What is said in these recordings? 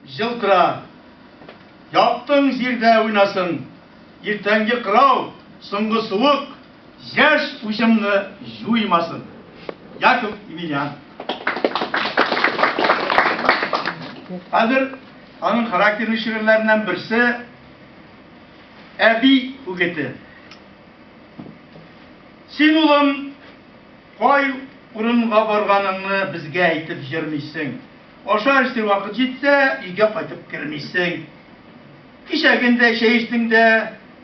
Җылтыра. Яктың җирдә уйнасын. Иртәнге кырау, соңгы суык, яшь уҗымны җуймасын. Яков Емельян. Хәзер аның характерлы шигырьләреннән берсе Әби үгете. Син, улым, кай урынга барганыңны безгә әйтеп җырмыйсың. Ашар-эчер вакыт җитсә, өйгә кайтып кермисең. Кичәген дә чәй эчтең дә,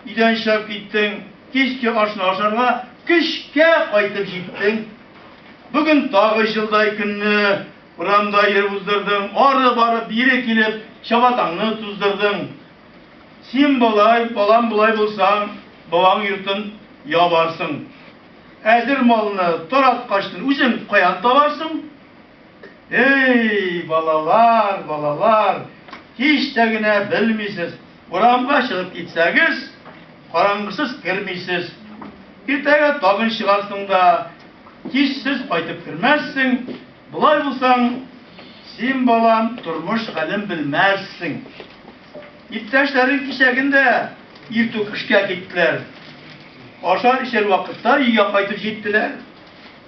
өйдән чыгып киттең, кичке ашны ашарга көчкә кайтып җиттең. Бүген тагы җылдай көнне урамда йөреп уздырдың, ары барып, бире килеп, чабатаңны туздырдың. Син болай, балам, болай булсаң, бабаң йортын ябарсың. Әзер малны, тараткачны үзең каян табарсың? Эй, балалар, балалар, һич тә генә белмисез, урамга чыгып китсәгез, караңгысыз кермисез. Иртәгә тагын чыгарсың да, кичсез кайтып кермәссең. Болай булсаң, син, балам, тормыш хәлен белмәссең. Иптәшләрең кичәген дә иртүк эшкә киттеләр. Ашар-эчәр вакытта өйгә кайтып җиттеләр.